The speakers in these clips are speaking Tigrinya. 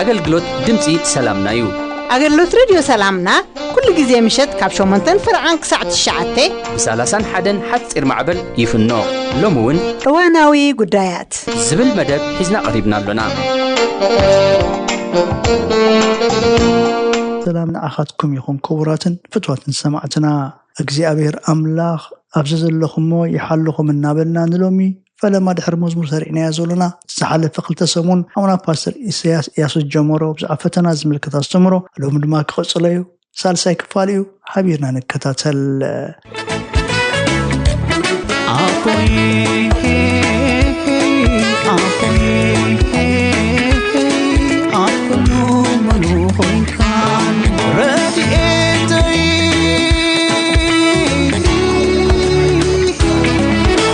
ኣገልግሎት ድምፂ ሰላምና እዩ። ኣገልግሎት ረድዮ ሰላምና ኩሉ ግዜ ምሸት ካብ ሸሞንተን ፍርዓን ክሳዕ ትሽዓተ ብሳላሳን ሓደን ሓፂር ማዕበል ይፍኖ ሎሚ እውን እዋናዊ ጉዳያት ዝብል መደብ ሒዝና ቀሪብና ኣሎና። ሰላም ንዓኻትኩም ይኹን ክቡራትን ፍትዋትን ሰማዕትና እግዚኣብሔር ኣምላኽ ኣብዚ ዘለኹሞ ይሓልኹም እናበልና ንሎሚ ፈለማ ድሕሪ መዝሙር ሰሪዕናዮ ዘሎና ዝሓለፈ ክልተ ሰሙን ሓውና ፓስተር ኢሰያስ ኢያሱ ዝጀመሮ ብዛዕባ ፈተና ዝምልከት ኣስተምህሮ ሎሚ ድማ ክቕጽሎ እዩ ሳልሳይ ክፋል እዩ ሓቢርና ንከታተል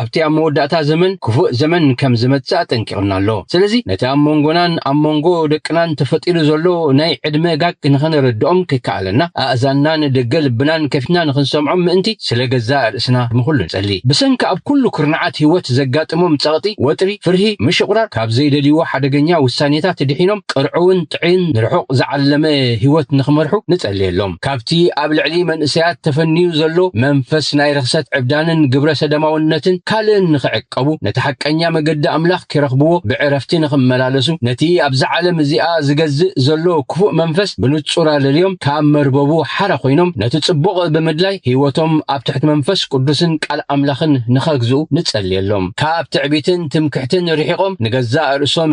ኣብቲ ኣብ መወዳእታ ዘመን ክፉእ ዘመን ከም ዝመጽእ ኣጠንቂቑና ኣሎ። ስለዚ ነቲ ኣብ መንጎናን ኣብ መንጎ ደቅናን ተፈጢሩ ዘሎ ናይ ዕድመ ጋግ ንኸነረድኦም ከይከኣለና ኣእዛንና ንደገ ልብናን ከፊትና ንኽንሰምዖም ምእንቲ ስለ ገዛእ ርእስና ንኹሉ ንጸሊ። ብሰንኪ ኣብ ኩሉ ኩርናዓት ህይወት ዘጋጥሞም ጸቕጢ፣ ወጥሪ፣ ፍርሂ፣ ምሽቑራር፣ ካብ ዘይደልይዎ ሓደገኛ ውሳኔታት ድሒኖም ቅርዑውን ጥዒን ንርሑቕ ዝዓለመ ህይወት ንኽመርሑ ንጸልየሎም። ካብቲ ኣብ ልዕሊ መንእሰያት ተፈንዩ ዘሎ መንፈስ ናይ ርኽሰት ዕብዳንን ግብረ ሰደማውነትን ካልእን ንኽዕቀቡ፣ ነቲ ሓቀኛ መገዲ ኣምላኽ ኪረኽብዎ ብዕረፍቲ ንኽመላለሱ፣ ነቲ ኣብዛ ዓለም እዚኣ ዚገዝእ ዘሎ ክፉእ መንፈስ ብንጹር ኣለልዮም ካብ መርበቡ ሓራ ኮይኖም ነቲ ጽቡቕ ብምድላይ ህይወቶም ኣብ ትሕቲ መንፈስ ቅዱስን ቃል ኣምላኽን ንኸግዝኡ ንጸልየሎም። ካብ ትዕቢትን ትምክሕትን ርሒቖም ንገዛእ ርእሶም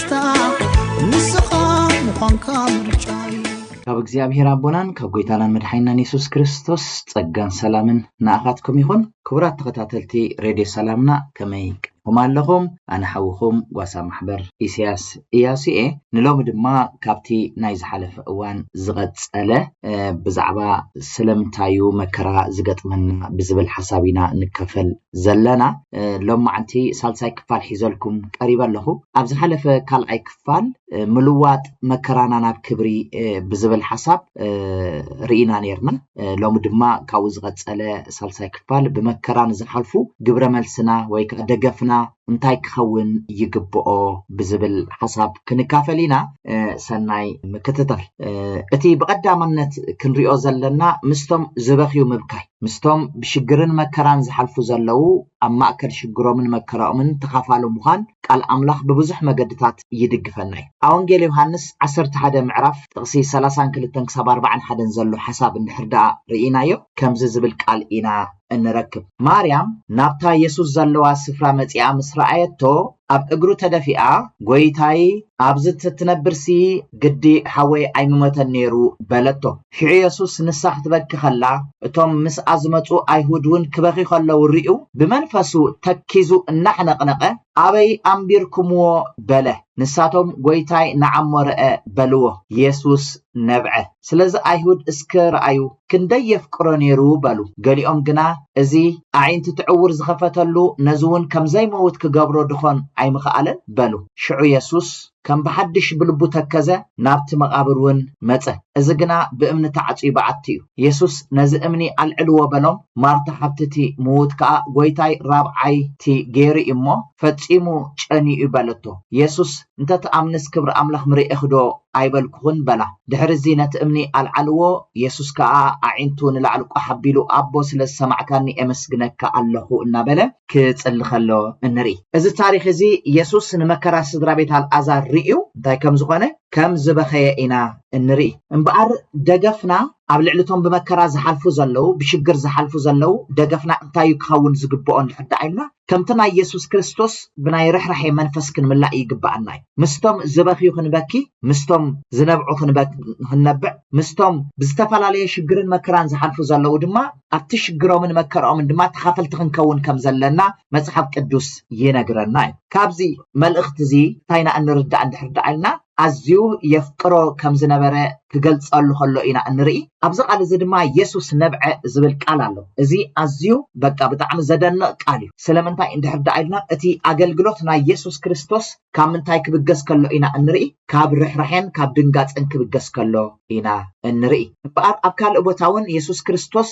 ካብ እግዚኣብሔር ኣቦናን ካብ ጎይታናን መድሓይናን የሱስ ክርስቶስ ጸጋን ሰላምን ንኣኻትኩም ይኹን ክቡራት ተኸታተልቲ ሬድዮ ሰላምና ከመይ ቀኹም ኣለኹም ኣነ ሓውኹም ጓሳ ማሕበር ኢስያስ እያሱ እየ ንሎሚ ድማ ካብቲ ናይ ዝሓለፈ እዋን ዝቐጸለ ብዛዕባ ስለምንታዩ መከራ ዝገጥመና ብዝብል ሓሳብ ኢና ንከፈል ዘለና ሎማዓንቲ ሳልሳይ ክፋል ሒዘልኩም ቀሪበ ኣለኹ ኣብ ዝሓለፈ ካልዓይ ክፋል ምልዋጥ መከራና ናብ ክብሪ ብዝብል ሓሳብ ርኢና ነርና ሎሚ ድማ ካብኡ ዝቐጸለ ሳልሳይ ክፋል ብመከራ ንዝሓልፉ ግብረ መልስና ወይ ከዓ ደገፍና እንታይ ክኸውን ይግብኦ ብዝብል ሓሳብ ክንካፈል ኢና ሰናይ ምክትታል እቲ ብቐዳምነት ክንሪኦ ዘለና ምስቶም ዝበኽዩ ምብካይ ምስቶም ብሽግርን መከራን ዝሓልፉ ዘለዉ ኣብ ማእከል ሽግሮምን መከራኦምን ተኻፋሊ ምዃን ቃል ኣምላኽ ብብዙሕ መገድታት ይድግፈና እዩ። ኣብ ወንጌል ዮሃንስ ዓሰርተ ሓደ ምዕራፍ ጥቕሲ ሰላሳን ክልተን ክሳብ ኣርባዓን ሓደን ዘሎ ሓሳብ እንድሕር ደኣ ርኢናዮ ከምዚ ዝብል ቃል ኢና እንረክብ ማርያም ናብታ የሱስ ዘለዋ ስፍራ መጺኣ ምስ ረኣየቶ ኣብ እግሩ ተደፊኣ ጎይታይ ኣብዚ ተትነብርሲ ግዲ ሓወይ ኣይምሞተን ነይሩ በለቶ። ሽዑ የሱስ ንሳ ክትበኪ ከላ እቶም ምስኣ ዝመጹ ኣይሁድ እውን ክበኺ ከለዉ ርእዩ ብመንፈሱ ተኪዙ እናሕነቕነቐ ኣበይ ኣንቢርኩምዎ በለ። ንሳቶም ጎይታይ ንዓሞ ረኣ በልዎ። የሱስ ነብዐ። ስለዚ ኣይሁድ እስከ ርኣዩ ክንደይ የፍቅሮ ነይሩ በሉ። ገሊኦም ግና እዚ ኣዒንቲ ትዕውር ዝኸፈተሉ ነዚውን ከም ዘይመውት ክገብሮ ድኾን ኣይምኸኣለን? በሉ። ሽዑ የሱስ ከም ብሓድሽ ብልቡ ተከዘ፣ ናብቲ መቓብር ውን መጸ። እዚ ግና ብእምኒ ተዓጽዩ በዓቲ እዩ። የሱስ ነዚ እምኒ ኣልዕልዎ በሎም። ማርታ ሓብቲ እቲ ምውት ከኣ ጐይታይ ራብዓይ እቲ ገይሩ እዩ እሞ፣ ፈጺሙ ጨንዩ እዩ በለቶ። የሱስ እንተ ትኣምንስ ክብሪ ኣምላኽ ምርኤኽዶ ኣይበልኩኹን? በላ። ድሕርዚ ነቲ እምኒ ኣልዓልዎ፣ የሱስ ከኣ ኣዒንቱ ንላዕሊ ቋሕ ኣቢሉ ኣቦ ስለ ዝሰማዕካኒ ኤመስግነካ ኣለኹ እናበለ ክጽሊ ከሎ እንርኢ። እዚ ታሪኽ እዚ የሱስ ንመከራ ስድራ ቤት ኣልኣዛር ርእዩ እንታይ ከም ዝኾነ ከም ዝበኸየ ኢና እንርኢ። እምበኣር ደገፍና ኣብ ልዕሊ እቶም ብመከራ ዝሓልፉ ዘለዉ፣ ብሽግር ዝሓልፉ ዘለዉ ደገፍና እንታይ እዩ ክኸውን ዝግብኦ እንድሕር ደኣ ኢልና ከምቲ ናይ የሱስ ክርስቶስ ብናይ ርሕራሔ መንፈስ ክንምላእ ይግብኣና እዩ። ምስቶም ዝበኽዩ ክንበኪ፣ ምስቶም ዝነብዑ ክንነብዕ፣ ምስቶም ብዝተፈላለየ ሽግርን መከራን ዝሓልፉ ዘለዉ ድማ ኣብቲ ሽግሮምን መከርኦምን ድማ ተኻፈልቲ ክንከውን ከም ዘለና መጽሓፍ ቅዱስ ይነግረና እዩ። ካብዚ መልእኽቲ እዚ እንታይ ኢና እንርዳእ እንድሕር ደኣ ኢልና ኣዝዩ የፍቅሮ ከም ዝነበረ ክገልጸሉ ከሎ ኢና እንርኢ። ኣብዚ ቃል እዚ ድማ የሱስ ነብዐ ዝብል ቃል ኣሎ። እዚ ኣዝዩ በቃ ብጣዕሚ ዘደንቕ ቃል እዩ። ስለምንታይ እንድሕር ደኣ ኢልና እቲ ኣገልግሎት ናይ የሱስ ክርስቶስ ካብ ምንታይ ክብገስ ከሎ ኢና እንርኢ? ካብ ርሕራሔን ካብ ድንጋጸን ክብገስ ከሎ ኢና እንርኢ። እምበኣር ኣብ ካልእ ቦታ እውን የሱስ ክርስቶስ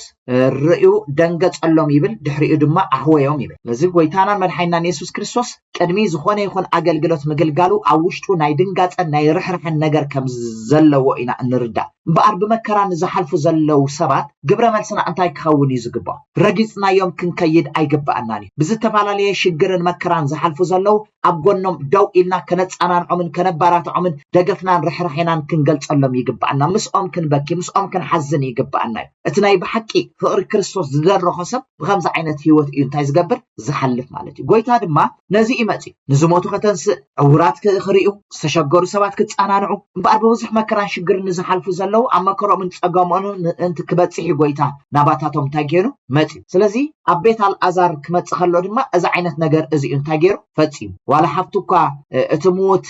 ርእዩ ደንገጸሎም ይብል ድሕሪኡ ድማ ኣሕወዮም ይብል። ስለዚ ጎይታናን መድሓኒናን የሱስ ክርስቶስ ቅድሚ ዝኾነ ይኹን ኣገልግሎት ምግልጋሉ ኣብ ውሽጡ ናይ ድንጋጸን ናይ ርሕራሐን ነገር ከም ዘለዎ ኢና እንርዳእ። እምበኣር ብመከራ ንዝሓልፉ ዘለዉ ሰባት ግብረ መልስና እንታይ ክኸውን እዩ ዝግብኦ? ረጊጽናዮም ክንከይድ ኣይግብኣናን እዩ። ብዝተፈላለየ ሽግርን መከራን ዝሓልፉ ዘለዉ ኣብ ጎኖም ደው ኢልና ከነጸናንዖምን ከነባራትዖምን ደገፍናን ርሕራሔናን ክንገልጸሎም ይግብኣና። ምስኦም ክንበኪ ምስኦም ክንሓዝን ይግብኣና እዩ። እቲ ናይ ብሓቂ ፍቕሪ ክርስቶስ ዝደረኾ ሰብ ብኸምዚ ዓይነት ህይወት እዩ እንታይ ዝገብር? ዝሓልፍ ማለት እዩ ጎይታ ድማ ነዚ እዩ መፅዩ ንዝሞቱ ከተንስእ ዕውራት ክርእዩ ዝተሸገሩ ሰባት ክፀናንዑ እምበኣር ብብዙሕ መከራን ሽግርን ንዝሓልፉ ዘለዉ ኣብ መከሮምን ፀገሞን ምእንቲ ክበፅሕ እዩ ጎይታ ናባታቶም እንታይ ገይሩ መፅዩ ስለዚ ኣብ ቤት ኣልኣዛር ክመፅእ ከሎ ድማ እዚ ዓይነት ነገር እዚ እዩ እንታይ ገይሩ ፈፂሙ ዋላ ሓፍቱ እኳ እቲ ምዉት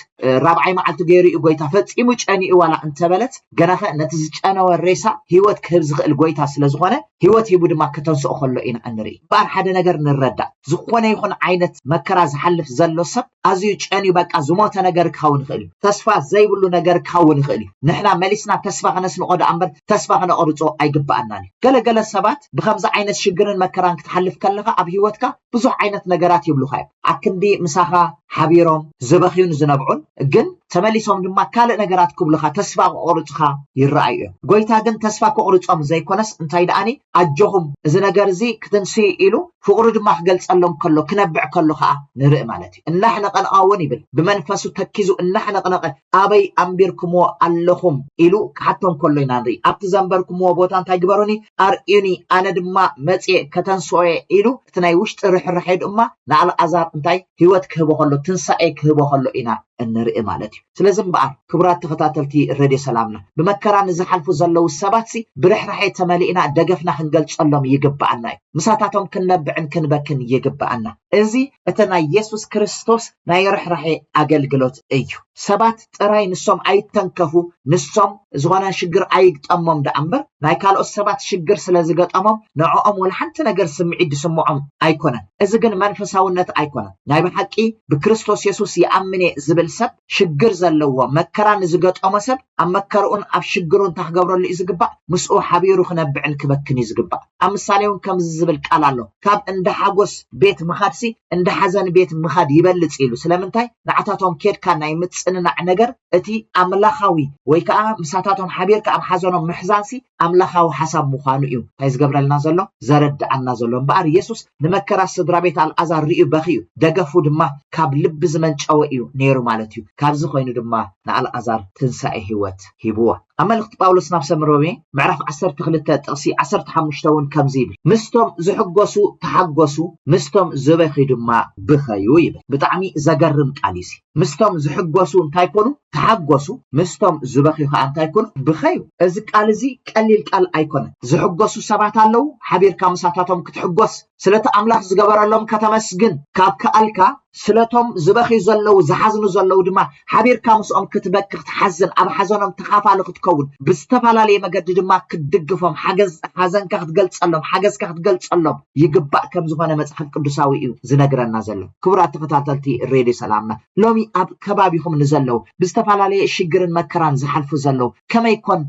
ራብዓይ መዓልቲ ገይሩ እዩ ጎይታ ፈፂሙ ጨኒኡ ዋላ እንተበለት ገናኸ ነቲ ዝጨነወ ሬሳ ሂወት ክህብ ዝኽእል ጎይታ ስለዝኾነ ህይወት ሂቡ ድማ ከተንስኦ ከሎ ኢና እንርኢ እምበኣር ሓደ ነገር ንረዳእ ዝኾነ ይኹን ዓይነት መከራ ዝሓልፍ ዘሎ ሰብ ኣዝዩ ጨንዩ በቃ ዝሞተ ነገር ክኸውን ይኽእል እዩ ተስፋ ዘይብሉ ነገር ክኸውን ይኽእል እዩ ንሕና መሊስና ተስፋ ክነስንቆ ደኣ እምበር ተስፋ ክነቆርጾ ኣይግበኣናን እዩ ገለ ገለ ሰባት ብከምዚ ዓይነት ሽግርን መከራን ክትሓልፍ ከለኻ ኣብ ህይወትካ ብዙሕ ዓይነት ነገራት ይብሉኻ እዮም ኣክንዲ ምሳኻ ሓቢሮም ዝበኽዩን ዝነብዑን ግን ተመሊሶም ድማ ካልእ ነገራት ክብሉኻ ተስፋ ከቑርጹኻ ይረኣዩ እዮም። ጎይታ ግን ተስፋ ከቑርጾም ዘይኮነስ እንታይ ደኣኒ ኣጆኹም እዚ ነገር እዚ ክትንስዩ ኢሉ ፍቕሩ ድማ ክገልጸሎም ከሎ ክነብዕ ከሎ ከኣ ንርኢ ማለት እዩ። እናሕነቐንቓ እውን ይብል ብመንፈሱ ተኪዙ እናሕነቕነቐ ኣበይ ኣንቢርኩምዎ ኣለኹም ኢሉ ክሓቶም ከሎ ኢና ንርኢ። ኣብቲ ዘንበርኩምዎ ቦታ እንታይ ግበሩኒ ኣርእዩኒ ኣነ ድማ መጽየ ከተንስኦ እየ ኢሉ እቲ ናይ ውሽጢ ርሕራሔ ድማ ንኣልኣዛር እንታይ ህይወት ክህቦ ከሎ ትንሳኤ ክህቦ ከሎ ኢና እንርኢ ማለት እዩ ስለዚ እምበኣር ክቡራት ተኸታተልቲ ረድዮ ሰላምና ብመከራ ንዝሓልፉ ዘለዉ ሰባትሲ ብርሕራሔ ተመሊእና ደገፍና ክንገልጸሎም ይግበኣና እዩ ምሳታቶም ክንነብዕን ክንበክን ይግበኣና እዚ እቲ ናይ የሱስ ክርስቶስ ናይ ርሕራሔ ኣገልግሎት እዩ። ሰባት ጥራይ ንሶም ኣይተንከፉ ንሶም ዝኾነ ሽግር ኣይግጠሞም ደኣ እምበር ናይ ካልኦት ሰባት ሽግር ስለ ዝገጠሞም ንዕኦም ወላ ሓንቲ ነገር ስምዒት ዝስምዖም ኣይኮነን እዚ ግን መንፈሳውነት ኣይኮነን ናይ ብሓቂ ብክርስቶስ የሱስ ይኣምን እየ ዝብል ሰብ ሽግር ዘለዎ መከራ ንዝገጠሞ ሰብ ኣብ መከርኡን ኣብ ሽግሩን ታክገብረሉ እዩ ዝግባእ ምስኡ ሓቢሩ ክነብዕን ክበክን እዩ ዝግባእ ኣብ ምሳሌ እውን ከምዚ ዝብል ቃል ኣሎ፣ ካብ እንዳ ሓጐስ ቤት ምኻድሲ እንዳ ሓዘን ቤት ምኻድ ይበልጽ ኢሉ። ስለምንታይ? ንዓታቶም ኬድካ ናይ ምጽንናዕ ነገር እቲ ኣምላኻዊ ወይ ከኣ ምሳታቶም ሓቢርካ ኣብ ሓዘኖም ምሕዛንሲ ኣምላኻዊ ሓሳብ ምዃኑ ኢዩ እንታይ ዝገብረልና ዘሎ ዘረድኣና ዘሎ። እምበኣር የሱስ ንመከራ ስድራ ቤት ኣልኣዛር ርእዩ በኽዩ፣ ደገፉ ድማ ካብ ልቢ ዝመንጨወ ኢዩ ነይሩ ማለት ኢዩ። ካብዚ ኮይኑ ድማ ንኣልኣዛር ትንሳኤ ህይወት ሂብዎ። ኣብ መልእኽቲ ጳውሎስ ናብ ሰብ ሮሜ ምዕራፍ ዓሰርተ ክልተ ጥቕሲ ዓሰርተ ሓሙሽተ እውን ከምዚ ይብል ምስቶም ዝሕጎሱ ተሓጎሱ ምስቶም ዝበኪ ድማ ብኸዩ ይብል ብጣዕሚ ዘገርም ቃል እዩ እዚ ምስቶም ዝሕጎሱ እንታይ ኮኑ ተሓጎሱ ምስቶም ዝበኪዩ ከዓ እንታይ ኮኑ ብኸዩ እዚ ቃል እዚ ቀሊል ቃል ኣይኮነን ዝሕጎሱ ሰባት ኣለዉ ሓቢርካ ምሳታቶም ክትሕጎስ ስለቲ ኣምላኽ ዝገበረሎም ከተመስግን ካብ ከኣልካ፣ ስለቶም ዝበኽዩ ዘለዉ ዝሓዝኑ ዘለዉ ድማ ሓቢርካ ምስኦም ክትበኪ ክትሓዝን ኣብ ሓዘኖም ተኻፋሊ ክትከውን ብዝተፋላለየ መገዲ ድማ ክትድግፎም ሓገዝ ሓዘንካ ክትገልጸሎም ሓገዝካ ክትገልጸሎም ይግባእ ከም ዝኾነ መጽሓፍ ቅዱሳዊ እዩ ዝነግረና ዘሎ ክቡራት ተኸታተልቲ ሬድዮ ሰላምና ሎሚ ኣብ ከባቢኹም ንዘለዉ ብዝተፋላለየ ሽግርን መከራን ዝሓልፉ ዘለዉ ከመይ ኮን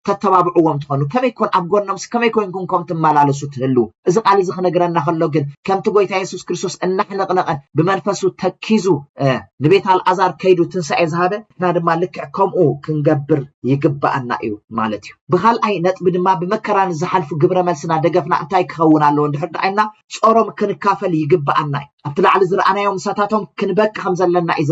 ተተባብዕዎም ትኸኑ? ከመይ ኮን ኣብ ጎኖምስ ከመይ ኮይንኩም ኮም ትመላለሱ ትህልዉ? እዚ ቃል እዚ ክነግረና ከሎ ግን ከምቲ ጎይታ የሱስ ክርስቶስ እናሕነቕነቐ ብመንፈሱ ተኪዙ ንቤት ኣልኣዛር ከይዱ ትንሳኤ ዝሃበ ንሕና ድማ ልክዕ ከምኡ ክንገብር ይግባኣና እዩ ማለት እዩ። ብካልኣይ ነጥቢ ድማ ብመከራ ንዝሓልፉ ግብረ መልስና ደገፍና እንታይ ክኸውን ኣለዎ እንድሕር ደኣ ኢልና ጾሮም ክንካፈል ይግባኣና እዩ። ኣብቲ ላዕሊ ዝረኣናዮ ምሳታቶም ክንበኪ ከም ዘለና እዩ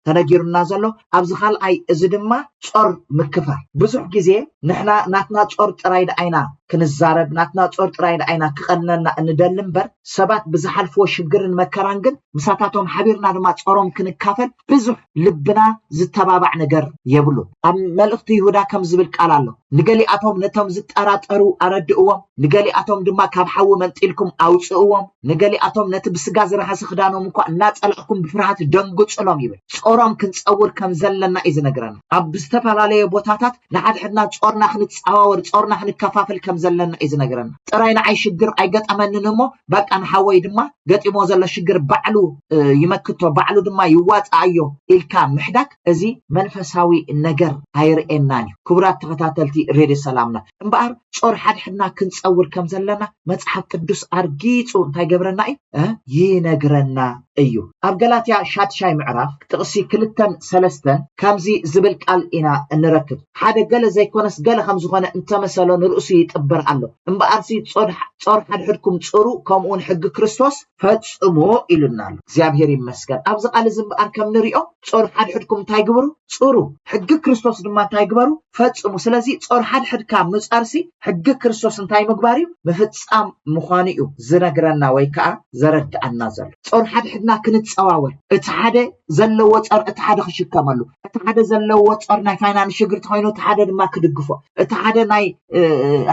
ተነጊሩና ዘሎ። ኣብዚ ካልኣይ እዚ ድማ ጾር ምክፋል ብዙሕ ግዜ ንሕና ናትና ጾር ጥራይ ደኣ ኢና ክንዛረብ ናትና ጾር ጥራይ ደኣ ኢና ክቀንነና እንደሊ እምበር ሰባት ብዝሓልፍዎ ሽግርን መከራን ግን ምሳታቶም ሓቢርና ድማ ጾሮም ክንካፈል ብዙሕ ልብና ዝተባባዕ ነገር የብሉን ኣብ መልእኽቲ ይሁዳ ከም ዝብል ቃል ኣሎ ንገሊኣቶም ነቶም ዝጠራጠሩ ኣረድእዎም፣ ንገሊኣቶም ድማ ካብ ሓዊ መንጢልኩም ኣውጽእዎም፣ ንገሊኣቶም ነቲ ብስጋ ዝረኸሰ ክዳኖም እኳ እናጸላእኩም ብፍርሃት ደንግጹሎም ይብል። ጾሮም ክንጸውር ከም ዘለና እዩ ዝነግረና። ኣብ ዝተፈላለየ ቦታታት ንሓድሕድና ጾርና ክንጻዋወር፣ ጾርና ክንከፋፍል ከም ዘለና እዩ ዝነግረና። ጥራይ ንዓይ ሽግር ኣይገጠመንን እሞ በቃ ንሓወይ ድማ ገጢምዎ ዘሎ ሽግር ባዕሉ ይመክቶ፣ ባዕሉ ድማ ይዋጽኣዮ ኢልካ ምሕዳግ፣ እዚ መንፈሳዊ ነገር ኣይርእየናን እዩ ክቡራት ተኸታተልቲ ሬድዮ ሰላምና እምበኣር ጾር ሓድሕድና ክንጸውር ከም ዘለና መጽሓፍ ቅዱስ ኣርጊጹ እንታይ ገብረና እዩ ይነግረና እዩ ኣብ ገላትያ ሻድሻይ ምዕራፍ ጥቕሲ ክልተን ሰለስተን ከምዚ ዝብል ቃል ኢና እንረክብ ሓደ ገለ ዘይኮነስ ገለ ከም ዝኾነ እንተመሰሎ ንርእሱ ይጥብር ኣሎ እምበኣርሲ ጾር ሓድሕድኩም ጽሩ ከምኡውን ሕጊ ክርስቶስ ፈጽሞ ኢሉና ኣሎ እግዚኣብሔር ይመስገን ኣብዚ ቃል እዚ እምበኣር ከም ንሪኦ ጾር ሓድሕድኩም እንታይ ግብሩ ጽሩ ሕጊ ክርስቶስ ድማ እንታይ ግበሩ ፈጽሙ ስለዚ ጾር ሓድሕድካ ምጻርሲ ሕጊ ክርስቶስ እንታይ ምግባር እዩ ምፍጻም ምዃኑ እዩ ዝነግረና ወይ ከዓ ዘረድኣና ዘሎ ጾር ሓድሕድና ክንጸዋወር እቲ ሓደ ዘለዎ ጾር እቲ ሓደ ክሽከመሉ እቲ ሓደ ዘለዎ ጾር ናይ ፋይናንስ ሽግር ተኮይኑ እቲ ሓደ ድማ ክድግፎ እቲ ሓደ ናይ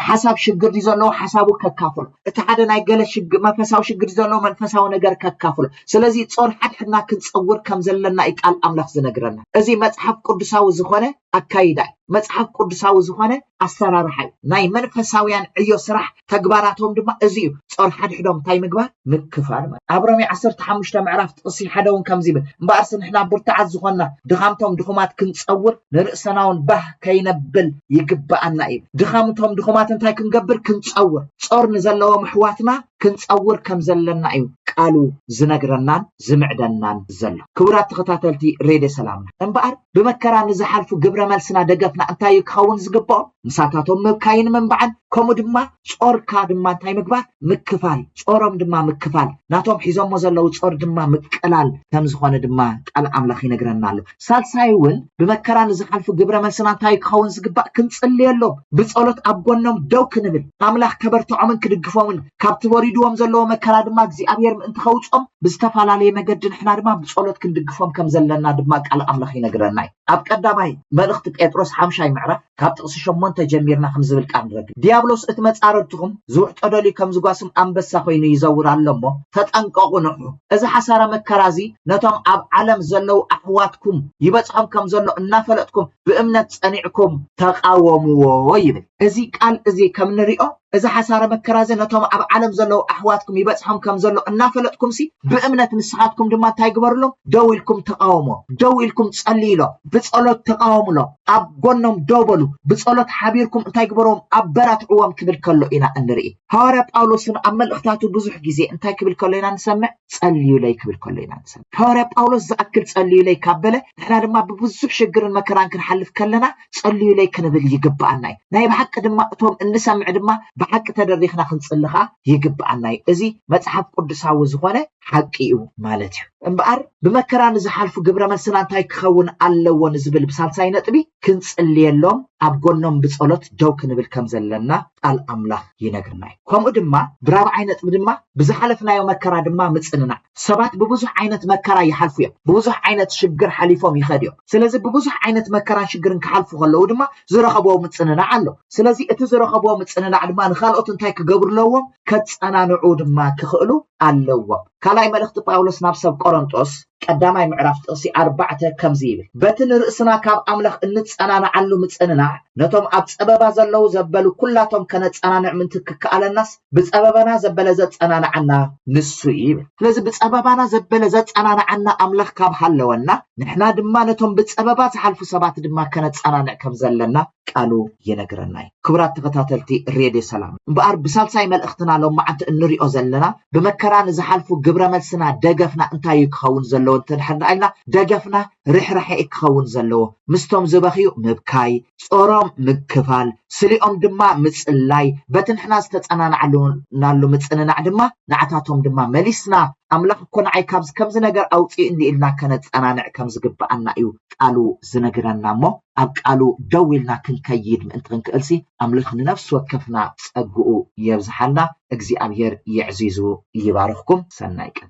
ሓሳብ ሽግር ዘለዎ ሓሳቡ ከካፍሎ እቲ ሓደ ናይ ገለ ሽግ መንፈሳዊ ሽግር ዘሎ መንፈሳዊ ነገር ከካፍሎ ስለዚ ጾር ሓድሕድና ክንጸውር ከም ዘለና እዩ ቃል ኣምላኽ ዝነግረና እዚ መጽሓፍ ቅዱሳዊ ዝኾነ ኣካይዳ እዩ መጽሓፍ ቅዱሳዊ ዝኾነ ኣሰራርሓ እዩ ናይ መንፈሳውያን ዕዮ ስራሕ ተግባራቶም ድማ እዚ እዩ ጾር ሓድሕዶም እንታይ ምግባር ምክፋል ኣብ ሮሜ 15 ምዕራፍ ጥቕሲ ሓደ እውን ከምዚ ይብል እምበኣርሲ ንሕና ብርቱዓት ዝኾንና ድኻምቶም ድኹማት ክንጸውር ንርእሰናውን ባህ ከይነብል ይግበኣና እዩ። ድኻም እቶም ድኹማት እንታይ ክንገብር ክንጸውር፣ ጾር ንዘለዎም ኣሕዋትና ክንጸውር ከም ዘለና እዩ ቃሉ ዝነግረናን ዝምዕደናን ዘሎ። ክቡራት ተኸታተልቲ ሬድዮ ሰላምና እምበኣር ብመከራ ንዝሓልፉ ግብረ መልስና ደገፍና እንታይ እዩ ክኸውን ዝግበኦ? ምሳታቶም ምብካይን ምንባዕን ከምኡ ድማ ጾርካ ድማ እንታይ ምግባር ምክፋል ጾሮም ድማ ምክፋል ናቶም ሒዞሞ ዘለዉ ጾር ድማ ምቅላል ከም ዝኾነ ድማ ቃል ኣምላኽ ይነግረና ኣሎ። ሳልሳይ እውን ብመከራ ንዝሓልፉ ግብረ መልስና እንታይ ክኸውን ዝግባእ ክንጽልየሎም ብጸሎት ኣብ ጎኖም ደው ክንብል ኣምላኽ ከበርትዖምን ክድግፎምን ካብቲ ወሪድዎም ዘለዎ መከራ ድማ እግዚኣብሔር ምእንቲ ከውጾም ብዝተፈላለየ መገዲ ንሕና ድማ ብጸሎት ክንድግፎም ከም ዘለና ድማ ቃል ኣምላኽ ይነግረና እዩ ኣብ ቀዳማይ መልእኽቲ ጴጥሮስ ሓምሻይ ምዕራፍ ካብ ጥቕሲ ሸሞንተ ጀሚርና ኸምዚ ዝብል ቃል ንረክብ፣ ድያብሎስ እቲ መጻርርትኹም ዝውሕጦ ደልዩ ከም ዝጓስም ኣንበሳ ዀይኑ ይዘውር ኣሎ እሞ፣ ተጠንቀቑ ንቕሑ። እዚ ሓሳረ መከራ እዚ ነቶም ኣብ ዓለም ዘለዉ ኣሕዋትኩም ይበጽሖም ከም ዘሎ እናፈለጥኩም ብእምነት ጸኒዕኩም ተቓወምዎ ይብል። እዚ ቃል እዚ ከም ንሪኦ እዚ ሓሳረ መከራ እዚ ነቶም ኣብ ዓለም ዘለዉ ኣሕዋትኩም ይበጽሖም ከም ዘሎ እናፈለጥኩምሲ ብእምነት ንስኻትኩም ድማ እንታይ ግበርሎም ደው ኢልኩም ተቓወሞ ደው ኢልኩም ጸልይሎም ብጸሎት ተቓወምሎም ኣብ ጎኖም ደው በሉ ብጸሎት ሓቢርኩም እንታይ ግበሮም ኣበራትዕዎም ክብል ከሎ ኢና እንርኢ ሃዋርያ ጳውሎስ እውን ኣብ መልእኽታቱ ብዙሕ ግዜ እንታይ ክብል ከሎ ኢና ንሰምዕ ጸልዩለይ ክብል ከሎ ኢና ንሰምዕ ሃዋርያ ጳውሎስ ዝኣክል ጸልዩለይ ካብ በለ ንሕና ድማ ብብዙሕ ሽግርን መከራን ክንሓልፍ ከለና ጸልዩለይ ክንብል ይግብኣና እዩ። ናይ ብሓቂ ድማ እቶም እንሰምዕ ድማ ብሓቂ ተደሪኽና ክንጽሊ ከኣ ይግብኣና እዩ። እዚ መጽሓፍ ቅዱሳዊ ዝኾነ ሓቂ እዩ ማለት እዩ። እምበኣር ብመከራ ንዝሓልፉ ግብረ መልስና እንታይ ክኸውን ኣለዎ ንዝብል ብሳልሳይ ነጥቢ ክንጽልየሎም ኣብ ጎኖም ብጸሎት ደው ክንብል ከም ዘለና ቃል ኣምላኽ ይነግርና እዩ። ከምኡ ድማ ብራብዓይ ነጥቢ ድማ ብዝሓለፍናዮ መከራ ድማ ምጽንናዕ። ሰባት ብብዙሕ ዓይነት መከራ ይሓልፉ እዮም። ብብዙሕ ዓይነት ሽግር ሓሊፎም ይኸዱ እዮም። ስለዚ ብብዙሕ ዓይነት መከራን ሽግርን ክሓልፉ ከለዉ ድማ ዝረኸብዎ ምጽንናዕ ኣሎ። ስለዚ እቲ ዝረኸብዎ ምጽንናዕ ድማ ንኻልኦት እንታይ ክገብሩ ኣለዎም? ከጸናንዑ ድማ ክኽእሉ ኣለዎም። ካልኣይ መልእኽቲ ጳውሎስ ናብ ሰብ ቆረንጦስ ቀዳማይ ምዕራፍ ጥቕሲ ኣርባዕተ ከምዚ ይብል፣ በቲ ንርእስና ካብ ኣምላኽ እንጸናንዓሉ ምጽንናዕ ነቶም ኣብ ጸበባ ዘለዉ ዘበሉ ኩላቶም ከነጸናንዕ ምእንቲ ክከኣለናስ ብፀበባና ዘበለ ዘፀናንዓና ንሱ እዩ ይብል። ስለዚ ብፀበባና ዘበለ ዘፀናንዓና ኣምላኽ ካብ ሃለወና ንሕና ድማ ነቶም ብፀበባ ዝሓልፉ ሰባት ድማ ከነፀናንዕ ከም ዘለና ቃሉ ይነግረና እዩ። ክቡራት ተኸታተልቲ ሬድዮ ሰላም እምበኣር ብሳልሳይ መልእኽትና ሎማዓንቲ እንሪኦ ዘለና ብመከራ ንዝሓልፉ ግብረ መልስና ደገፍና እንታይ እዩ ክኸውን ዘለዎ እንተድሕር ኢልና ደገፍና ርሕራሐ እዩ ክኸውን ዘለዎ ምስቶም ዝበኽዩ ምብካይ ጾሮም ምክፋል፣ ስሊኦም ድማ ምጽላይ፣ በቲ ንሕና ዝተጸናናዕናሉ ምጽንናዕ ድማ ንዓታቶም ድማ መሊስና፣ ኣምላኽ እኮ ንዓይ ካብዚ ከምዚ ነገር ኣውጺኡኒ ኢልና ከነጸናንዕ ከም ዝግብኣና እዩ ቃሉ ዝነግረና እሞ ኣብ ቃሉ ደው ኢልና ክንከይድ ምእንቲ ክንክእልሲ ኣምላኽ ንነፍሲ ወከፍና ጸግኡ የብዝሓልና። እግዚኣብሄር የዕዚዙ ይባርኽኩም። ሰናይ ቀን።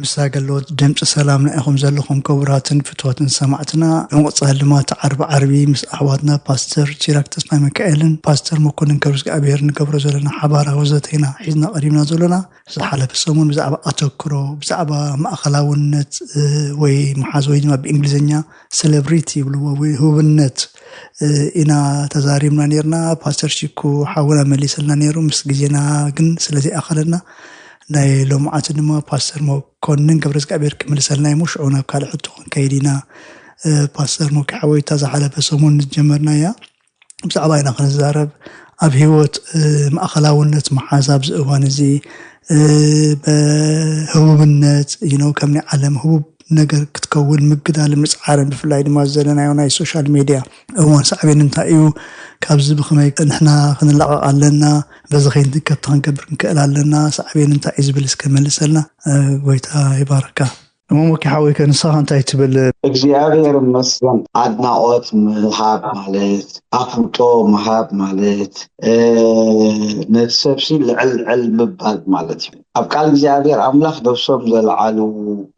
ምስታ ገለዎት ደምጺ ሰላምና ኢኹም ዘለኹም ክቡራትን ፍትዋትን ሰማዕትና ብምቕጻል ድማ ትዓርቢ ዓርቢ ምስ ኣሕዋትና ፓስተር ሲራክ ተስፋሚካኤልን ፓስተር መኮንን ከብርስግኣብሄር ንገብሮ ዘለና ሓባራዊ ዘተ ኢና ሒዝና ቀሪብና ዘሎና ዝሓለፈ ሰሙን ብዛዕባ ኣተክሮ ብዛዕባ ማእኸላውነት ወይ መሓዝ ወይ ድማ ብእንግሊዝኛ ሴሌብሪቲ ይብልዎ ወይ ህቡብነት ኢና ተዛሪብና ነርና ፓስተር ሲኩ ሓውና መሊሰልና ነይሩ ምስ ግዜና ግን ስለዘይኣኸለና ናይ ሎምዓንቲ ድማ ፓስተር መኮንን ገብረዝግኣብሄር ክምልሰልና እዩሞ ሽዑ ናብ ካልእ ሕቶ ክንከይድ ኢና። ፓስተር ሞኬ ሓወይ እታ ዝሓለፈ ሰሙን ዝጀመርናያ ብዛዕባ ኢና ክንዛረብ ኣብ ህይወት ማእኸላውነት መሓዝ ኣብዚ እዋን እዚ በህቡብነት ይነው ከም ናይ ዓለም ህቡብ ነገር ክትከውን ምግዳልን ምፅዓርን ብፍላይ ድማ ዘለናዮ ናይ ሶሻል ሜድያ እወ ሳዕቤኑ እንታይ እዩ? ካብዚ ብኸመይ ንሕና ክንላቐቕ ኣለና? በዚ ከይንትንከፍቲ ክንገብር ክንክእል ኣለና? ሳዕቤኑ እንታይ እዩ ዝብል እስከ መልሰልና። ጎይታ ይባርካ። እሞ ሞኬ ሓወይ ከ ንስኻ እንታይ ትብል? እግዚኣብሔር ይመስገን ኣድናቆት ምሃብ ማለት ኣፍልጦ ምሃብ ማለት ነቲ ሰብሲ ልዕል ልዕል ምባል ማለት እዩ። ኣብ ቃል እግዚኣብሔር ኣምላኽ ነፍሶም ዘልዓሉ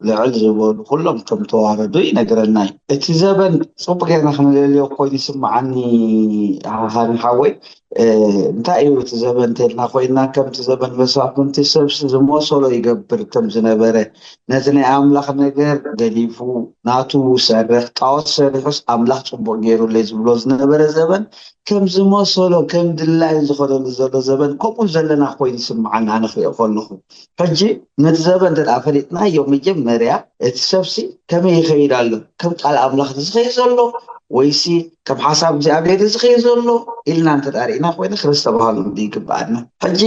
ልዕል ዝበሉ ኩሎም ከም ተዋረዱ ይነግረና እዩ። እቲ ዘበን ጽቡቅ ጌርና ክንለልዮ ኮይኑ ይስምዓኒ ሃኒ ሓወይ እንታይ እዩ እቲ ዘበን እንተልና ኮይና ከምቲ ዘበን መሳፍንቲ ሰብሲ ዝመሰሎ ይገብር ከም ዝነበረ ነቲ ናይ ኣምላኽ ነገር ገዲፉ ናቱ ሰረኽ ጣዖት ሰሪሑስ ኣምላኽ ጽቡቅ ጌሩለይ ዝብሎ ዝነበረ ዘበን ከም ዝመሰሎ ከም ድላዩ ዝኸደሉ ዘሎ ዘበን ከምኡ ዘለና ኮይኑ ይስምዓኒ ኣነ ክሪኦ ከለኹ ሕጂ ነቲ ዘበን እንተ ፈሊጥናዮ መጀመርያ እቲ ሰብሲ ከመይ ይኸይድ ኣሎ ከም ቃል ኣምላኽ ድዩ ዝኸይድ ዘሎ ወይሲ ከም ሓሳብ እግዚኣብሔር ድዩ ዝኸይድ ዘሎ ኢልና እንተ ሪእና ኮይኑ ክነስተባሃሉ ንዲ ይግብኣና ሕጂ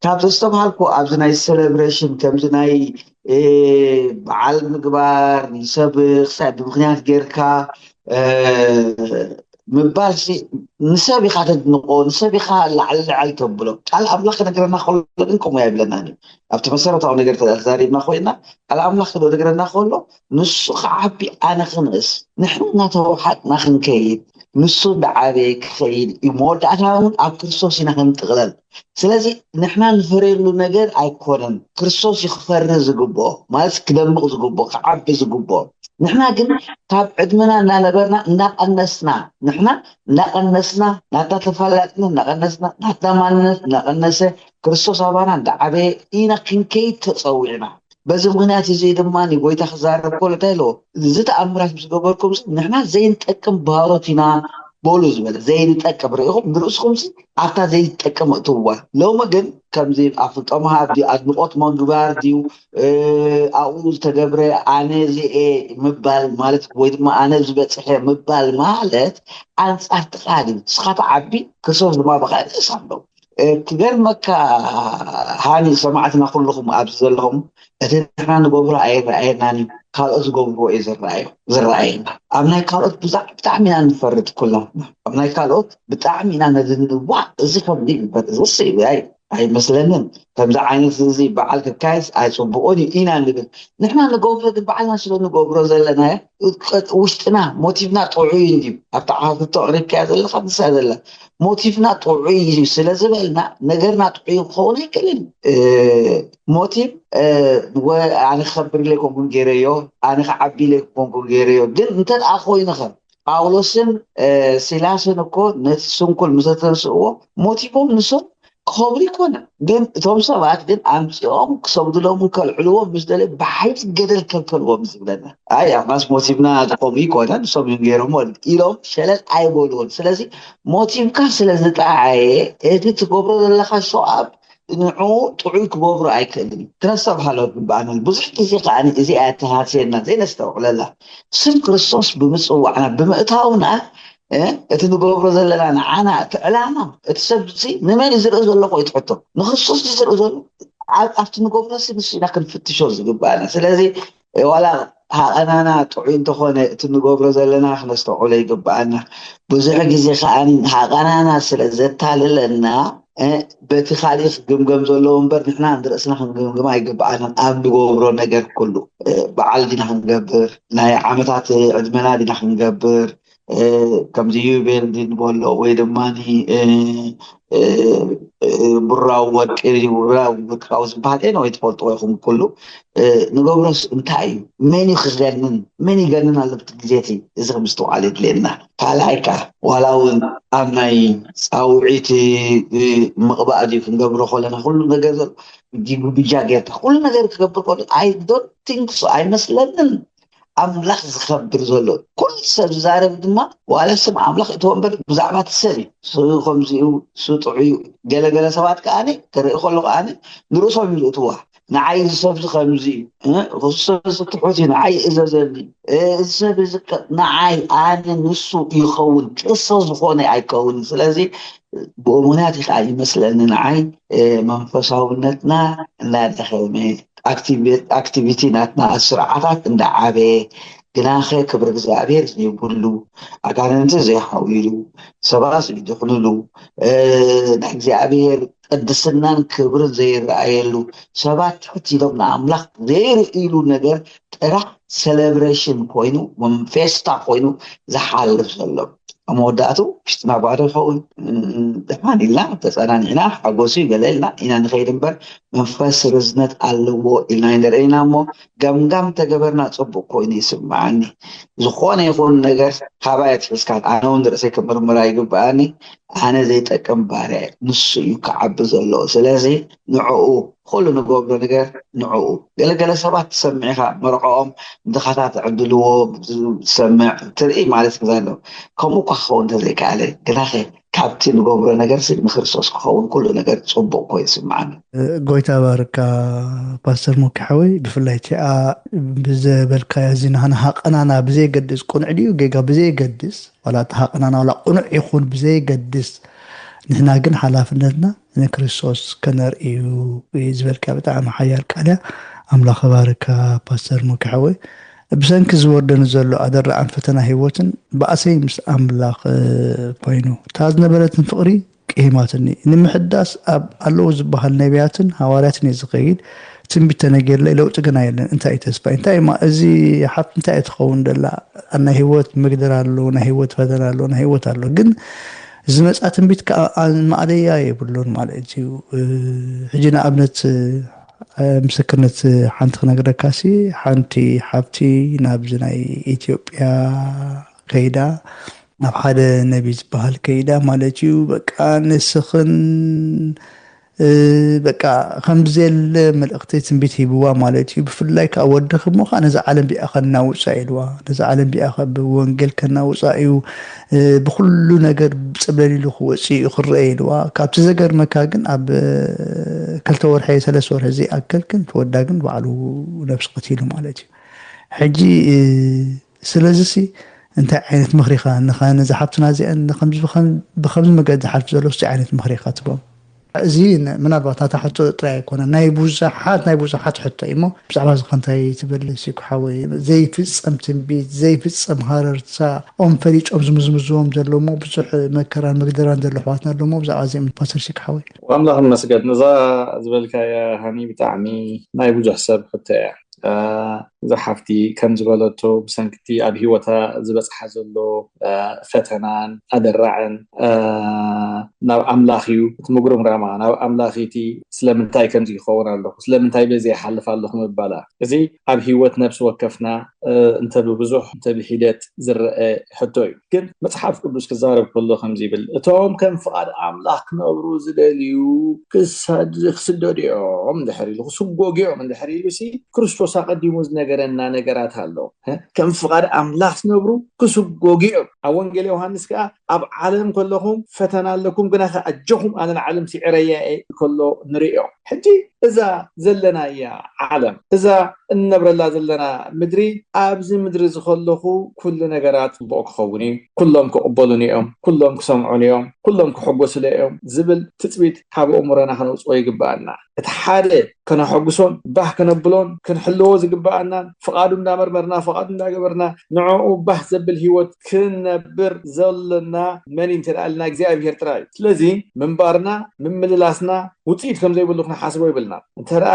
ካብ ዘስተባሃልኩ ኣብዚ ናይ ሴሌብሬሽን ከምዚ ናይ በዓል ምግባር ንሰብ ክሳብ ብምክንያት ጌርካ ምባል ንሰብ ኢኻ ተድንቆ ንሰብ ኢኻ ላዕሊ ልዕል ተብሎ ቃል ኣምላኽ ክነግረና ከሎ ግን ከምኡ ኣይብለናን እዩ ኣብቲ መሰረታዊ ነገር ተዛሪብና ኮይና ቃል ኣምላኽ ክነግረና ከሎ ንሱ ክዓቢ ኣነ ክንእስ ንሕና እናተዋሓጥና ክንከይድ ንሱ እንዳዓበየ ክኸይድ እዩ መወዳእታ እውን ኣብ ክርስቶስ ኢና ክንጥቕለል ስለዚ ንሕና ንፈርየሉ ነገር ኣይኮነን ክርስቶስ እዩ ክፈሪ ዝግብኦ ማለት ክደምቕ ዝግብኦ ክዓቢ ዝግብኦ ንሕና ግን ካብ ዕድመና እናነበርና እናቐነስና ንሕና እናቐነስና ናትና ተፈላጥነት እናቐነስና ናትና ማንነት እናቐነሰ ክርስቶስ ኣባና እንዳዓበየ ኢና ክንከይድ ተፀዊዕና በዚ ምኽንያት እዚ ድማ ጐይታ ክዛረብ ከሎ እንታይ ኢልዎ? እዚ ተኣምራት ምስ ገበርኩምሲ ንሕና ዘይንጠቅም ባሮት ኢና በሉ ዝበለ ዘይንጠቅም ርኢኹም ንርእስኹምሲ ኣብታ ዘይትጠቅም እእትውዋ ሎሚ ግን ከምዚ ኣፍልጦ ምሃብ ድዩ ኣድንቆት ምግባር ድዩ ኣብኡ ዝተገብረ ኣነ እዚኤ ምባል ማለት ወይ ድማ ኣነ ዝበፅሐ ምባል ማለት ኣንፃርትኻ ድዩ ንስኻ ትዓቢ ክርስቶስ ድማ ብካልእ ሳምበው ክገርመካ ሃኒ ሰማዕትና ኩሉኹም ኣብዚ ዘለኹም እቲ ንሕና ንገብሮ ኣይረኣየናን እዩ ካልኦት ዝገብርዎ እዩ ዝረኣዮ ዝረኣየና ኣብ ናይ ካልኦት ብዛዕ ብጣዕሚ ኢና ንፈርድ ኩላትና ኣብ ናይ ካልኦት ብጣዕሚ ኢና ነድንዋ እዚ ከምዚ ይግበር እዚስ ኣይ ኣይመስለንን ከምዚ ዓይነት እዚ በዓል ክካየስ ኣይፅቡቕን እዩ ኢና ንብል ንሕና ንገብሮ ግን ባዕልና ስለ ንገብሮ ዘለናዮ ውሽጥና ሞቲቭና ጥዑይ እንድዩ ኣብቲ ሓተቶ ኣቕሪብካያ ዘለኻ ንሳ ዘላ ሞቲቭና ጥዑይ እዩ ስለ ዝበልና ነገርና ጥዑይ ክኸውን ኣይክእልን ሞቲቭ ኣነ ክኸብር ኢለ ኮንኩን ገይረዮ ኣነ ክዓቢ ኢለ ኮንኩን ገይረዮ ግን እንተ ደኣ ኮይኑ ኸ ጳውሎስን ሲላስን እኮ ነቲ ስንኩል ምስ ተንስእዎ ሞቲቮም ንሶም ክኸብሩ ይኮና ግን እቶም ሰባት ግን ኣምፂኦም ክሰግድሎምን ከልዕልዎም ምስ ደለዩ ብሓይሊ ገደል ከልከልዎም ዝብለና ኣይ ኣማስ ሞቲቭና ዝኾኑ ይኮነ ንሶም እዮም ገይሮሞ ኢሎም ሸለል ኣይበልዎን ስለዚ ሞቲቭካ ስለ ዝጠዓየ እቲ ትገብሮ ዘለካ ሸዋብ ንዑ ጥዑይ ክገብሩ ኣይክእልን ክነስተብሃሎ ግባኣና ብዙሕ ግዜ ከዓ እዚኣ ተሃስየና ዘይነስተውዕለላ ስም ክርስቶስ ብምፅዋዕና ብምእታውና እቲ ንገብሮ ዘለና ንዓና እቲ ዕላማ እቲ ሰብ እዚ ንመን እዩ ዝርኢ ዘሎ ቆይ ትሕቶ ንክርስቶስ እዩ ዝርኢ ዘሎ ኣብቲ ንገብሮ ሲ ንሱ ኢና ክንፍትሾ ዝግባእና ስለዚ ዋላ ሃቐናና ጥዑይ እንተኾነ እቲ ንገብሮ ዘለና ክነስተውዕሎ ይግባኣና ብዙሕ ግዜ ከዓ ሃቐናና ስለ ዘታልለና በቲ ካሊእ ክግምገም ዘለዎ እምበር ንሕና ንርእስና ክንግምግም ኣይግባኣናን ኣብ ንገብሮ ነገር ኩሉ በዓል ዲና ክንገብር ናይ ዓመታት ዕድመና ዲና ክንገብር ከምዚ ዩቤልዲን ቦሎ ወይ ድማ ብራዊ ወርቂ ብራዊ ወርቃዊ ዝበሃል ኤነ ወይ ትፈልጥዎ ኢኹም ኩሉ ንገብሮስ እንታይ እዩ መን እዩ ክገንን መን ይገንን ኣሎ ብቲ ግዜ እቲ እዚ ከምዝተውዓል የድልየና ካልኣይ ከዓ ዋላ እውን ኣብ ናይ ፃውዒት ምቕባእ ድዩ ክንገብሮ ከለና ኩሉ ነገር ዘሎ ጊጉ ብጃ ጌርካ ኩሉ ነገር ክገብር ከሎ ኣይ ዶንት ቲንክ ሶ ኣይመስለንን ኣምላኽ ዝኸብር ዘሎ ኩሉ ሰብ ዝዛረብ ድማ ዋላ ስም ኣምላኽ እቶ እምበር ብዛዕባ እቲ ሰብ እዩ ሱ ከምዚ እዩ ሱ ጥዑይ እዩ ገለገለ ሰባት ከዓኒ ክርኢ ከሎ ከዓኒ ንርእሶም እዩ ዝእትዋ ንዓይ እዚ ሰብ እዚ ከምዚ እዩ እዚ ሰብ እዚ ትሑት እዩ ንዓይ እዘዘኒ እዚ ሰብ እዚ ንዓይ ኣነ ንሱ ይኸውን ቅርሶ ዝኾነ ኣይከውን ስለዚ ብኡሙናት ከዓ ይመስለኒ ንዓይ መንፈሳውነትና እናደኸመ ኣክቲቪቲ ናትና ስርዓታት እንዳዓበየ ግናኸ ክብሪ እግዚኣብሔር ዘይብሉ ኣጋንንቲ ዘይሓውይሉ ሰባት ዘይድሕንሉ ናይ እግዚኣብሔር ቅድስናን ክብርን ዘይረኣየሉ ሰባት ትሕት ኢሎም ንኣምላኽ ዘይርእይሉ ነገር ጥራሕ ሰለብሬሽን ኮይኑ ወይም ፌስታ ኮይኑ ዝሓልፍ ዘሎ ኣብ መወዳእቱ ውሽጢ ማጓዶ ይኸውን ድሓን ኢልና ተጸናኒዕና ሓጎሱ ገለ ኢልና ኢና ንኸይድ እምበር መንፈስ ርዝነት ኣለዎ ኢልና ይንርኢና እሞ ገምጋም ተገበርና ጽቡቅ ኮይኑ ይስምዓኒ ዝኾነ ይኹን ነገር ካባይ ኣትሒዝካ ኣነ እውን ርእሰይ ክምርምራ ይግብኣኒ ኣነ ዘይጠቅም ባርያ ንሱ እዩ ክዓቢ ዘለዎ ስለዚ ንዕኡ ኹሉ ንገብሮ ነገር ንዕኡ ገለ ገለ ሰባት ትሰምዕ ኢኻ መርዕኦም ንድኻታት ዝዕድልዎ ትሰምዕ ትርኢ ማለት ግዛ ኣሎ ከምኡ እኳ ክኸውን እንተዘይከኣለ ግናኸ ካብቲ ንገብሮ ነገርሲ ንክርስቶስ ክኸውን ኩሉ ነገር ጽቡቕ ኮይኑ ይስምዓኒ። ጎይታ ይባርካ ፓስተር ሞኪ ሓወይ ብፍላይ እቲኣ ብዘበልካያ እዚ ናህና ሃቀናና ብዘይገድስ ቁኑዕ ድዩ ጌጋ ብዘይገድስ ዋላ እቲ ሃቀናና ዋላ ቁኑዕ ይኹን ብዘይገድስ ንሕና ግን ሓላፍነትና ንክርስቶስ ከነርኢ እዩ እዩ ዝበልካ ብጣዕሚ ሓያል ቃል እያ ኣምላኽ እባርካ ፓስተር ሙኪ ሓወይ ብሰንኪ ዝወርደኒ ዘሎ ኣደራዕን ፈተና ህይወትን ባእሰይ ምስ ኣምላኽ ኮይኑ እታ ዝነበረትን ፍቕሪ ቅሂማትኒ ንምሕዳስ ኣብ ኣለዉ ዝበሃል ነቢያትን ሃዋርያትን እየ ዝኸይድ ትንቢት ተነጊርለይ ለውጢ ግና የለን እንታይ ተስፋይ እንታይ እማ እዚ ሓፍቲ እንታይ እየ ትኸውን ደላ ናይ ህይወት ምግድር ኣሎ ናይ ህይወት ፈተና ኣሎ ናይ ህይወት ኣሎ ግን ዝመጽኣ ትንቢት ከኣ ማእለያ የብሉን ማለት እዩ። ሕጂ ንኣብነት ምስክርነት ሓንቲ ክነግረካሲ ሓንቲ ሓብቲ ናብዚ ናይ ኢትዮጵያ ከይዳ ናብ ሓደ ነቢ ዝበሃል ከይዳ ማለት እዩ በቃ ንስኽን በቃ ከምዘየለ መልእኽቲ ትንቢት ሂብዋ ማለት እዩ። ብፍላይ ከዓ ወድኺ እሞ ከዓ ነዛ ዓለም ቢኣ ከናውፃ ኢልዋ ነዛ ዓለም ቢኣ ብወንጌል ከናውፃ እዩ ብኩሉ ነገር ፅብለል ኢሉ ክወፅእ እዩ ክረአ ኢልዋ። ካብቲ ዘገርመካ ግን ኣብ ክልተ ወርሒ ሰለስተ ወርሒ ዘይኣክል ግን ተወዳ ግን ባዕሉ ነብሲ ቀቲሉ ማለት እዩ ሕጂ ስለዚሲ እንታይ ዓይነት ምኽሪ ኢኻ ንኻ ነዛ ሓብትና እዚኣን ንከምዚ ብከምዚ መገዲ ዝሓልፍ ዘሎ እስቲ ዓይነት ምኽሪ ኢኻ ትቦም? እዚ ምናልባት ናታ ሕቶ ጥራይ ኣይኮነን ናይ ብዙሓት ናይ ብዙሓት ሕቶ እዩ እሞ ብዛዕባ እዚ ከንታይ ትብል ሲኩ ሓወይ ዘይፍጸም ትንቢት ዘይፍጸም ሃረርታ ኦም ፈሊጦም ዝምዝምዝዎም ዘሎ እሞ ብዙሕ መከራን መግደራን ዘሎ ኣሕዋትና ኣሎ እሞ ብዛዕባ እዚኦም ፓስተር ሲኩ ሓወይ ኣምላኽ ይመስገን እዛ ዝበልካያ ሃኒ ብጣዕሚ ናይ ብዙሕ ሰብ ሕቶ እያ እዛ ሓፍቲ ከም ዝበለቶ ብሰንኪቲ ኣብ ሂወታ ዝበፅሓ ዘሎ ፈተናን ኣደራዕን ናብ ኣምላኽ እዩ እቲ ምጉርምራማ ናብ ኣምላኽ እቲ ስለምንታይ ከምዚ ይኸውን ኣለኹ ስለምንታይ በዚ ይሓልፍ ኣለኹ ምባላ እዚ ኣብ ሂወት ነብሲ ወከፍና እንተ ብብዙሕ እንተ ብሒደት ዝረአ ሕቶ እዩ ግን መጽሓፍ ቅዱስ ክዛረብ ከሎ ከምዚ ይብል እቶም ከም ፍቓድ ኣምላኽ ክነብሩ ዝደልዩ ክስደዱ እዮም እንድሕር ኢሉ ክስጎጉ እዮም እንድሕር ኢሉ ሲ ክርስቶስ ኣቐዲሙ ዝነገረና ነገራት ኣሎ ከም ፍቓድ ኣምላኽ ዝነብሩ ክስጎጉ እዮም ኣብ ወንጌል ዮሃንስ ከዓ ኣብ ዓለም ከለኹም ፈተና ኣለኩም ግና ከ ኣጀኹም ኣነ ንዓለም ስዕረያ እየ ከሎ ንርእዮ ሕጂ እዛ ዘለናያ ዓለም እዛ እንነብረላ ዘለና ምድሪ ኣብዚ ምድሪ እዚ ከለኹ ኩሉ ነገራ ጽቡቕ ክኸውን እዩ፣ ኩሎም ክቕበሉኒ እዮም፣ ኩሎም ክሰምዑኒ እዮም፣ ኩሎም ክሕጎሱለይ እዮም ዝብል ትጽቢት ካብ ኣእምሮና ከነውጽኦ ይግብኣና። እቲ ሓደ ከነሐጉሶን ባህ ከነብሎን ክንሕልዎ ዝግብኣናን ፍቓዱ እንዳመርመርና ፍቓዱ እንዳገበርና ንዕኡ ባህ ዘብል ሂወት ክንነብር ዘሎና መን እዩ እንተድኣ ኢልና እግዚኣብሄር ጥራይ እዩ። ስለዚ ምንባርና ምምልላስና ውጽኢት ከም ዘይብሉ ክንሓስቦ የብልናን። እንተድኣ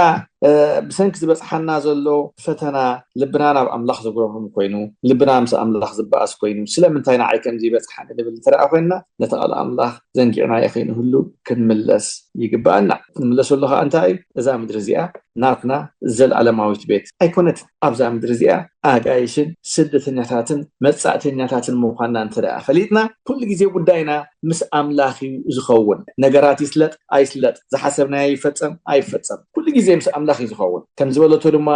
ብሰንኪ ዝበጽሓና ዘሎ ፈተና ልብና ናብ ኣምላኽ ዘጉረምርም ኮይኑ፣ ልብና ምስ ኣምላኽ ዝበኣስ ኮይኑ፣ ስለምንታይ ንዓይ ከምዚ ይበጽሓኒ ንብል እንተድኣ ኮይንና፣ ነቲ ቃል ኣምላኽ ዘንጊዕናዮ ከይንህሉ ክንምለስ ይግብኣና። ክንምለሰሉ ከኣ እንታይ እዩ? እዛ ምድሪ እዚኣ ናትና ዘልኣለማዊት ቤት ኣይኮነትን። ኣብዛ ምድሪ እዚኣ ኣጋይሽን ስደተኛታትን መጻእተኛታትን ምዃንና እንተ ደኣ ፈሊጥና፣ ኩሉ ግዜ ጉዳይና ምስ ኣምላኽ እዩ ዝኸውን። ነገራት ይስለጥ ኣይስለጥ፣ ዝሓሰብናዮ ይፈጸም ኣይፈጸም፣ ኩሉ ግዜ ምስ ኣምላኽ እዩ ዝኸውን። ከም ዝበለቶ ድማ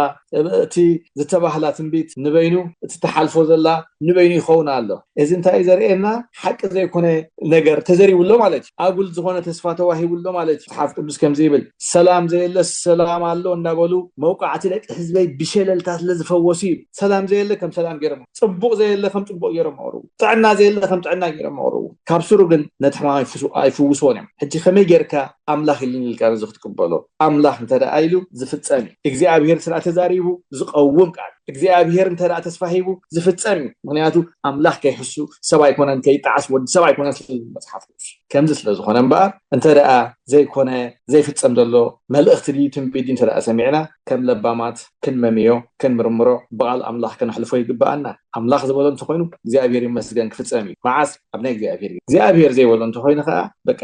እቲ ዝተባህላ ትንቢት ንበይኑ እቲ ትሓልፎ ዘላ ንበይኑ ይኸውን ኣሎ። እዚ እንታይ እዩ ዘርእየና ሓቂ ዘይኮነ ነገር ተዘሪቡ ኣሎ ማለት እዩ ኣጉል ዝኾነ ተስፋ ተዋሂቡ ኣሎ ማለት እዩ መጽሓፍ ቅዱስ ከምዚ ይብል ሰላም ዘየለስ ሰላም ኣሎ እንዳበሉ መውቃዕቲ ደቂ ህዝበይ ብሸለልታ ስለ ዝፈወሱ እዩ ሰላም ዘየለ ከም ሰላም ገይሮም ጽቡቕ ዘየለ ከም ጽቡቕ ገይሮም ኣቕርቡ ጥዕና ዘየለ ከም ጥዕና ገይሮም ኣቕርቡ ካብ ስሩ ግን ነቲ ሕማም ኣይፍውስዎን እዮም ሕጂ ከመይ ጌርካ ኣምላኽ ኢልኒ ኢልካ ነዚ ክትቅበሎ ኣምላኽ እንተ ኢሉ ዝፍጸም እዩ። እግዚኣብሄር ስለ ተዛሪቡ ዝቐውም ቃል እዩ። እግዚኣብሄር እንተ ተስፋ ሂቡ ዝፍጸም እዩ። ምኽንያቱ ኣምላኽ ከይሕሱ ሰብ ኣይኮነን ከይጠዓስ ወዲ ሰብ ኣይኮነን ስለ ዝብል መጽሓፍ ቅዱስ። ከምዚ ስለ ዝኾነ እምበኣር እንተ ዘይኮነ ዘይፍጸም ዘሎ መልእኽቲ ድዩ ትንቢት ድዩ እንተ ሰሚዕና ከም ለባማት ክንመምዮ ክንምርምሮ ብቓል ኣምላኽ ከነሕልፎ ይግብኣና። ኣምላኽ ዝበሎ እንተ ኮይኑ እግዚኣብሄር ይመስገን ክፍጸም እዩ። መዓስ ኣብ ናይ እግዚኣብሄር ግዜ። እግዚኣብሄር ዘይበሎ እንተ ኮይኑ ከኣ በቃ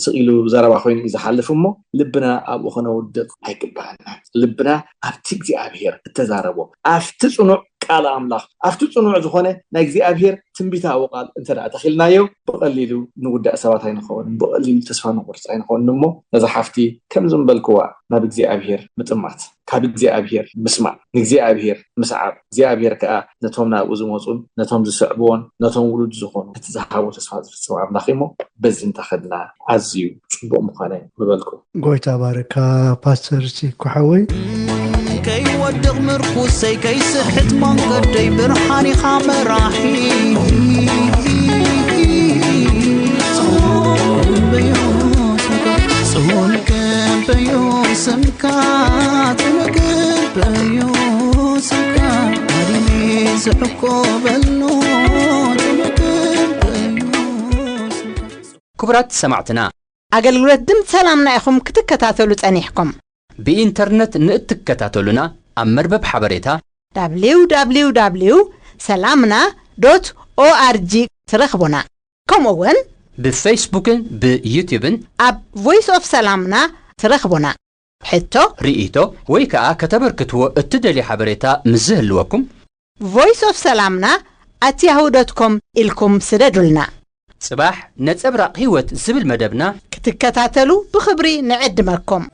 ስቅ ኢሉ ዘረባ ኮይኑ እዩ ዝሓልፍ እሞ ልብና ኣብኡ ከነውድቅ ኣይግባኣናን። ልብና ኣብቲ እግዚኣብሄር እተዛረቦ ኣብቲ ጽኑዕ ቃል ኣምላኽ ኣብቲ ጽኑዕ ዝኾነ ናይ እግዚኣብሄር ትንቢታዊ ቃል እንተ ደኣ ተኺልናዮ ብቐሊሉ ንጉዳእ ሰባት ኣይንኸውንን ብቐሊሉ ተስፋ ንቑርጽ ኣይንኸውንን እሞ ነዛ ሓፍቲ ከምዚ ምበልክዋ ናብ እግዚኣብሄር ምጥማት ካብ እግዚኣብሄር ምስማዕ፣ ንእግዚኣብሄር ምስዓብ፣ እግዚኣብሄር ከኣ ነቶም ናብኡ ዝመጹን ነቶም ዝስዕብዎን ነቶም ውሉድ ዝኾኑ እቲ ዝሃቦ ተስፋ ዝፍጽም ኣምላኽ እዩ'ሞ በዚ እንተኸድና ኣዝዩ ጽቡቕ ምኾነ ምበልኩ። ጎይታ ይባርካ ፓስተር ሲኮ ሓወይ። ከይወድቕ ምርኩሰይ ከይስሕት መንገደይ ብርሃን ኢኻ መራሒ በዩ ስምካ ትነግር በዩ ስምካ ኣድሜ ዝዕቆበሉ ትነግር በዩ ስምካ ክቡራት ሰማዕትና ኣገልግሎት ድምፂ ሰላምና ኢኹም ክትከታተሉ ጸኒሕኩም ብኢንተርነት ንእትከታተሉና ኣብ መርበብ ሓበሬታ www ሰላምና ዶት ኦኣርጂ ትረኽቡና ከምኡ ውን። ብፈይስቡክን ብዩቱብን። ኣብ ቮይስ ኦፍ ሰላምና ትረኽቡና። ሕቶ። ርእይቶ ወይ ከኣ ከተበርክትዎ እትደልዩ ሓበሬታ ምስ ዝህልወኩም። ቮይስ ኦፍ ሰላምና ኣት ያሁ ዶት ኮም ኢልኩም ስደዱልና። ጽባሕ ነጸብራቕ ህይወት ዝብል መደብና። ክትከታተሉ ብኽብሪ ንዕድመኩም።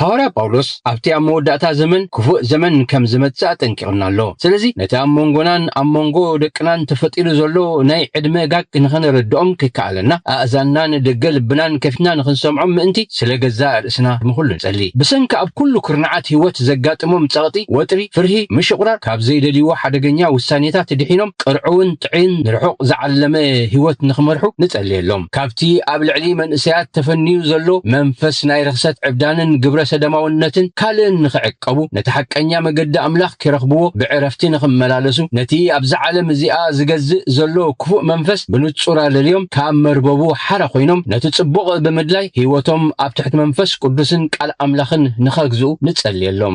ሃዋርያ ጳውሎስ ኣብቲ ኣብ መወዳእታ ዘመን ክፉእ ዘመን ከም ዝመጽእ ኣጠንቂቑና ኣሎ። ስለዚ ነቲ ኣብ መንጎናን ኣብ መንጎ ደቅናን ተፈጢሩ ዘሎ ናይ ዕድመ ጋግ ንኸነረድኦም ከይከኣለና ኣእዛንናን ደገ ልብናን ከፊትና ንኽንሰምዖም ምእንቲ ስለ ገዛእ ርእስና ንኹሉ ንጸሊ። ብሰንኪ ኣብ ኩሉ ኩርናዓት ህይወት ዘጋጥሞም ጸቕጢ፣ ወጥሪ፣ ፍርሂ፣ ምሽቝራር፣ ካብ ዘይደልይዎ ሓደገኛ ውሳኔታት ድሒኖም ቅርዑውን ጥዕይን ንርሑቕ ዝዓለመ ህይወት ንኽመርሑ ንጸልየሎም። ካብቲ ኣብ ልዕሊ መንእሰያት ተፈንዩ ዘሎ መንፈስ ናይ ርኽሰት ዕብዳንን ግብረ ሰደማውነትን ካልእን ንኽዕቀቡ፣ ነቲ ሓቀኛ መገዲ ኣምላኽ ኪረኽብዎ ብዕረፍቲ ንኽመላለሱ፣ ነቲ ኣብዛ ዓለም እዚኣ ዚገዝእ ዘሎ ክፉእ መንፈስ ብንጹር ኣለልዮም ካብ መርበቡ ሓራ ኮይኖም ነቲ ጽቡቕ ብምድላይ ህይወቶም ኣብ ትሕቲ መንፈስ ቅዱስን ቃል ኣምላኽን ንኸግዝኡ ንጸልየሎም።